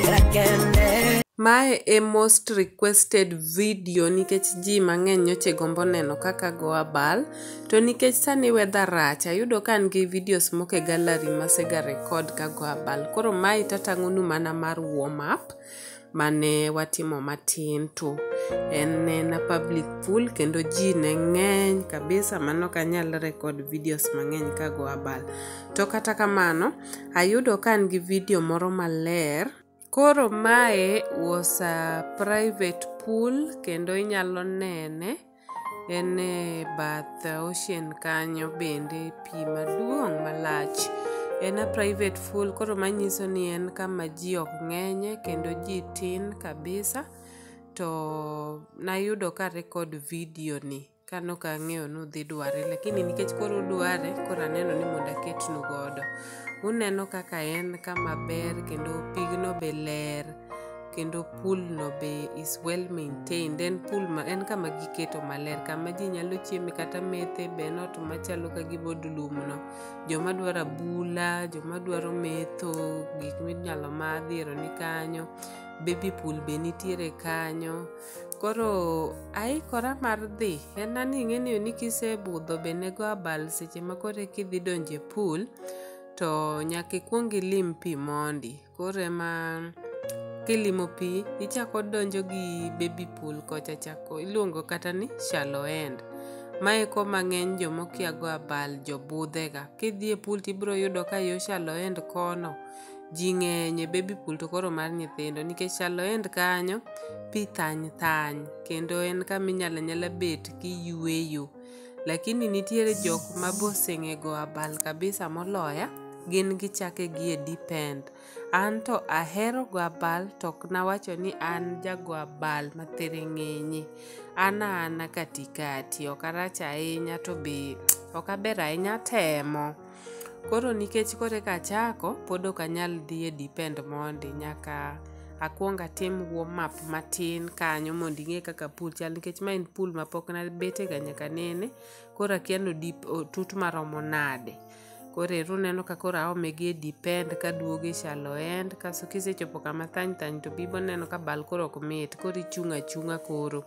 Era kende. Mae e most requested video nikech ji mang'eny nyoche gombo neno kaka go abal to nikech sani weather rach ayudo ka an gi videos moko e gallery masega record ka go abal koro mae tatang'onu mana mar warm up mane watimo matin to en na public pool kendo ji ne ng'eny kabisa mano ok anyal record videos mang'eny kago abal to kata kamano ayudo ka an gi video moro maler koro mae was a private pool kendo inyalo nene en e bath ocean kanyo bende pi maduong' malach en a private pool koro manyiso ni en kama ji ok ng'enye kendo ji tin kabisa to nayudo ka record video ni kano ka ang'eyo ni udhi dware lakini nikech koro udware koro aneno ni mondo aketnu godo uneno kaka en kama ber kendo pigno be ler kendo pool no be is well maintained en pool ma en kama giketo maler kama ji nyalo chieme kata methe be en ot machalo ka gibod lum no joma dwaro abula joma dwaro metho gik minyalo madhi ero ni kanyo baby pool be nitiere kanyo koro aikora mar dhi en ani ing'eniyo ni kisebudho be nego abal seche ma koro ekidhi donje pool to nyaka ikwong ilim pi mondi koro ema kilimo pi ichako donjo gi baby pool kocha chako iluongo kata ni shallow end mae ko mang'eny jomokia go abal jobudhega kidhi e pool tibiro yudo ka yo shallow end kono ji ng'eny e baby pool to koro mar nyithindo nikech shallow end kanyo pi thany thany kendo en kama inyalo anyala bet kiyueyo Lakini nitiere jok ma boseng'ego abal kabisa moloya, gin gichake gi e depend. An to ahero go abal to ok nawacho ni an jago abal ma thiring'inyi. An a ana katikati, ok arach ahinya to be ok aber ahinya, atemo. Koro nikech koro eka achako, pod ok anyal dhi e depend mondi, nyaka akwong atim wo map matin kanyo mondo ing'e kaka pool chal nikech ma en pool ma pok nabetega nyaka nene, koro akia ni odip otut maromo nade. Koro ero uneno ka koro aome gi e depend kaduogo e shallow end kaso kisechopo kama thany thany to bibo neno ka bal koro ok mit, koro ichung' achung'a koro.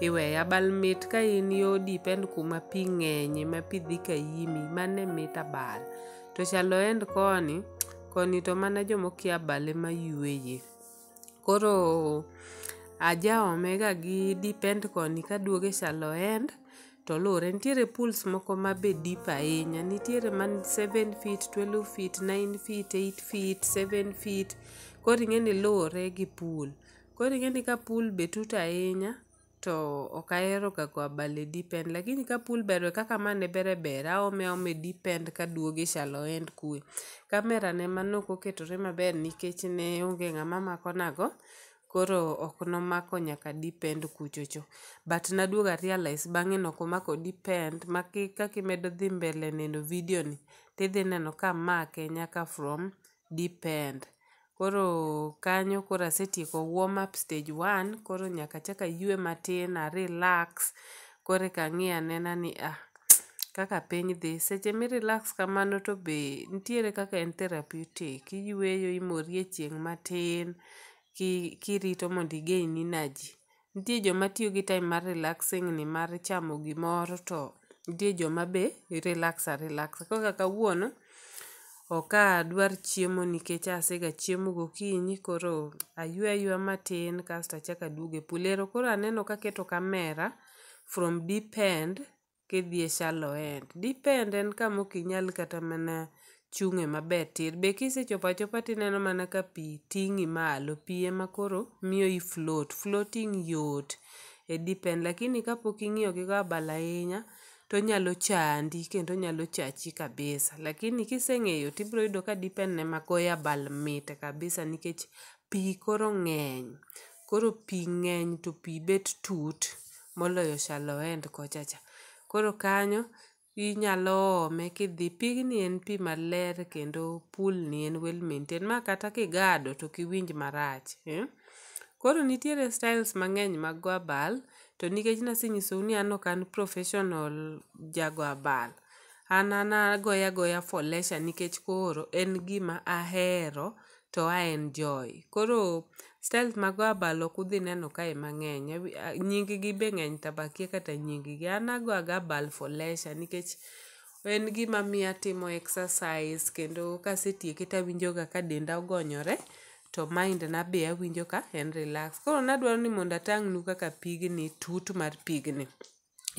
iweya bal mit ka in yo dipend kuma pi ng'enye ma pi dhi ka yimi mane mit abal to chalo end koni koni to mana jomokia bale ma yueye koro ajaomega gi dipend koni kaduogo e chalo end to luwre nitiere pools moko ma be deep ahinya nitiere man 7 feet 12 feet 9 feet 8 feet 7 feet koro ing'e ni luwre gi pool Koro ing'e ni ka pool be tut ahinya to ok ahero ga go abal e deep end lakini ka pool ber we kaka ma ne ber ber aome aoma e deep end ka duogo e shallow end kuwe. Kamera ne ema nok oketore maber nikech ne onge ng'ama mako na go koro ok nomako nyaka deep end kuchocho. But naduogo a realize bang'e ni ok omako deep end ma kaka imedo dhi mbele neno video ni tidhi neno ka amake nyaka from depend. Koro kanyo koro asetieko warm up stage one, koro nyaka achak aywe matin a relax koreka ang'i anena ni ah, kaka piny dhi. Seche mi relax kamano to be nitiere kaka en therapeutic, iyweyo imori e chieng' matin ki kirito mondo i gain energy. Nitie joma tiyo gi time mar relaxing ni mar chamo gimoro to nitie joma be relax a relax. Koro kaka kawuono ok adwar chiemo nikech asega chiemo gokinyi koro aywe ayweya matin kasto achako aduogo e pool. Ero koro aneno kaketo camera from deep end kidhi e shallow end. Deep end en kama ok inyal kata mana chung'e maber tir. Be kisechopo achopa tineno mana ka pi ting'i malo, pi ema koro miyo i float. Floating yot e deep end lakini kapok ing'iyo gi go abal ahinya tonyalo chandi kendo onyalo chachi kabisa. Lakini kiseng'eyo tibiro yudo ka deep end ema goyo abal mit kabisa nikech pi koro ng'eny. Koro pi ng'eny to pi bet tut moloyo Shaloend kochacha. Koro kanyo inyalo ome kidhi. Pigni en pi maler kendo pool ni en well maintained ma kata kigado to ok iwinj marach. Koro nitiere styles mang'eny mag go abal, to nikech nasenyisou ni an ok an professional ja go abal, an an agoya agoya for leisure nikech koro en gima ahero to a en Joy. Koro styles mag abal ok udhi neno kae mang'eny. Abi- a- Nying gi be ng'eny to akia kata nying gi. An ago aga abal for leisure nikech en gima miyo atimo exercise kendo kasetieke to awinjoga ka denda ogonyore to mind na be awinjo ka en relax. Koro nadwaro ni mondo atang'nu kaka pigni tut mar pigni.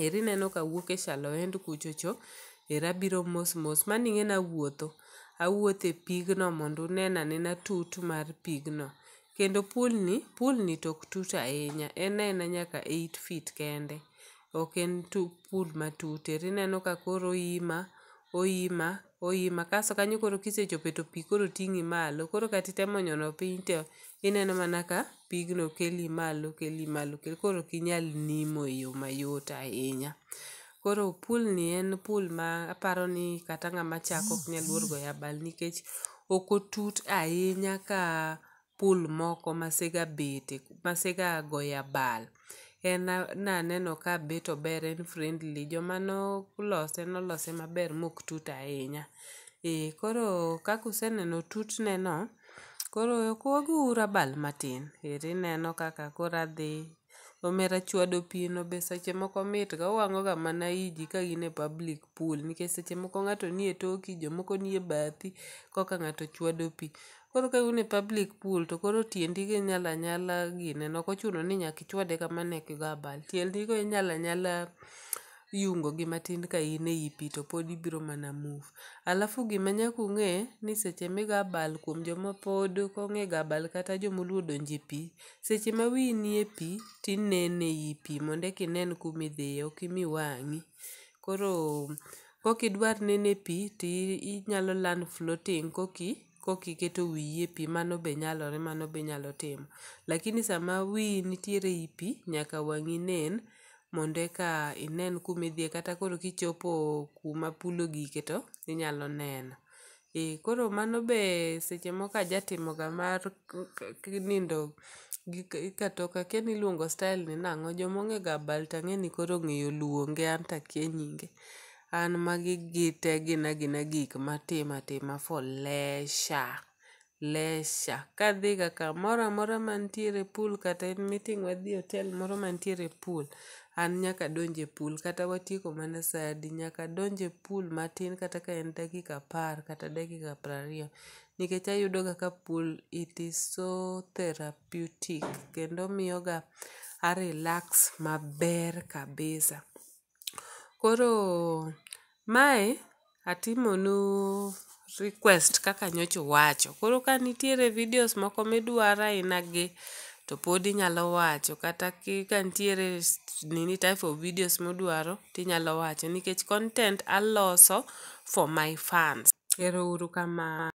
Eri ineno ka awuok e Shaloend kucho cho, ero abiro mos mos. Mano ing'e ni awuotho, awuotho e pigno mondo unena anena tut mar pigno. Kendo pool ni, pool ni to ok tut ahinya, en aena nyaka eight feet kende. Ok en pool matut. Ero ineno ka koro oima, oima. Oyima kaso kanyo koro kisechope to pi koro ting'i malo. Koro kata itemo nyono piny to ineno mana ka pigno keli malo keli malo keli koro ok inyal nimo e yo mayot ahinya. Koro pool ni en pool ma aparo ni kata ng'ama chako ok nyal luor goyo abal nikech ok otut ahinya ka pool moko masega bete masega goye abal. En naneno ka bet ober en friendly joma nolose nolose maber mok tut ahinya. Ee koro kaka useneno tutneno koro ok wagouru abal matin ero ineno kaka koro adhi Omera chwado pi no be seche moko mitga, owang'oga mana i ji ka gin e public pool nikech seche moko ng'ato nie toki, jomoko nie bathi koka ng'ato chwado pi. Koro ka un e public pool to koro tiendi go inyalo anyala gine no, ok ochuno ni nyaka ichwade kamano eka igo abal. Tiendi go inyalo anyala yungo gi matin ka in ei pi to pod ibiro mana move. Alafu gima nyaka ung'e ni seche migo abal kuom joma pod ok ong'e go abal kata joma oluoro donjo e pi, Seche ma wiyi nie pi to ineno ei pi mondo eka inen kuma idhiye ok imi wang'i. Koro kaok idwar neno e pi to inyalo learn floating kaok iketo wiyi e pi, mano be nyalore mano be inyalo timo. Lakini sama wiyi nitiere ei pi nyaka wang'i nen mondo eka inen kuma idhiye kata koro kichopo kuma pool ogike to inyalo neno. Ee, koro mano be seche moko ajatimoga mar k- k- k- nindo gi k- katoka kia ni iluongo style ni nang'o joma ong'ega bal to ang'e ni koro ong'eyo luonge an to akia nyinge an magi gite gina gina gik matimo atima for leisure leisure kadhiga kamoro amora mantiere pool kata en meeting wadhi e hotel moro mantiere pool an nyaka adonj e pool kata watieko mana sa adi, nyaka adonj e pool matin kata ka en dakika apar kata dakika piero ariyo nikech ayudoga ka pool it is so therapeutic kendo omiyoga a relax maber kabisa. Koro mae Atimonu request kaka nyocha uwacho. Koro ka nitiere videos moko midwaro aina gi to pod inyalo wacho kata ki ka nitiere s- nini type of videos mudwaro tinyalo wacho nikech content aloso for my fans. Ero uru kamano.